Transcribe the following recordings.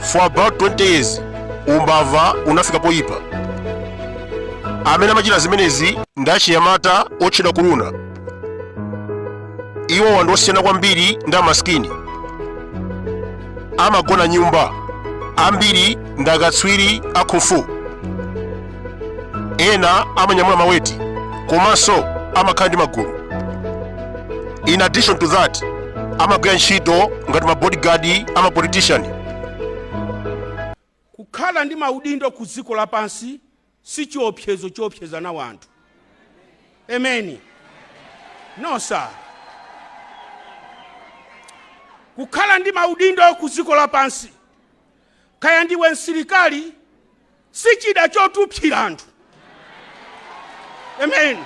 for about 20 years umbava unafika poyipa amene amachita zimenezi ndi achinyamata otchedwa kuluna iwo ndi osiyana kwambiri ndi amasikini, amagona nyumba ambiri ndi akatswiri a kung fu ena amanyamula maweti komanso amakhala ndi magulu in addition to that amagwira ntchito ngati mabodyguard ama politician kukhala ndi maudindo ku dziko lapansi si chiopsezo choopsezera anthu emeni no sir kukhala ndi maudindo ku dziko lapansi Kaya ndiwe msilikali si chida choopsera anthu. Amen.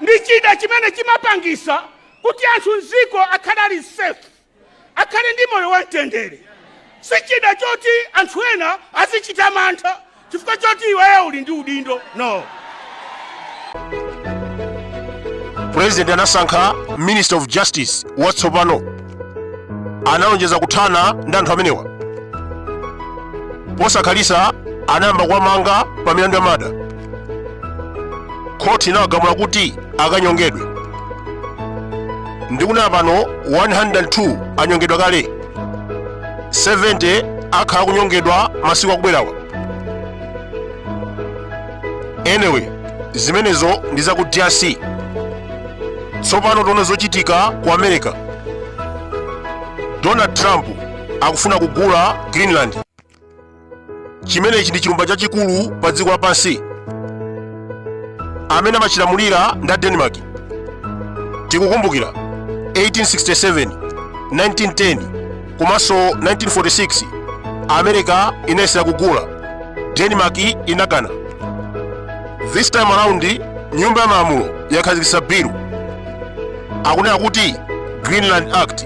Ndi chida chimene chimapangisa kuti anthu mziko akhale ali safe, akhale ndi moyo wamtendere. Si chida choti anthu ena azichita mantha chifukwa choti iweyo uli ndi udindo no president anasankha minister of justice watsopano analonjeza kuthana ndi anthu amenewa posakhalisa anayamba kuwamanga pa milandu ya murder khoti inawagamula kuti akanyongedwe ndikunena pano 102 anyongedwa kale 70 akhala akunyongedwa masiku akubwerawa anyway zimenezo ndi za ku drc tsopano tione zochitika ku america donald trump akufuna kugula greenland chimenechi ndi chilumba chachikulu pa dziko lapansi amene amachilamulira ndi a denmark tikukumbukira 1867 1910 komanso 1946 america inayesera kugula denmark inakana this time around nyumba ya malamulo yakhazikitsa bill akunena kuti greenland act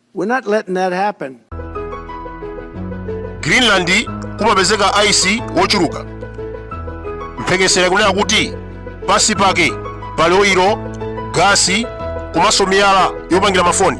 We're not letting that happen. greenland kumapezeka ice wochuluka mphekesera kunena kuti pansi pake pali oyiro gasi komanso miyala yopangira mafoni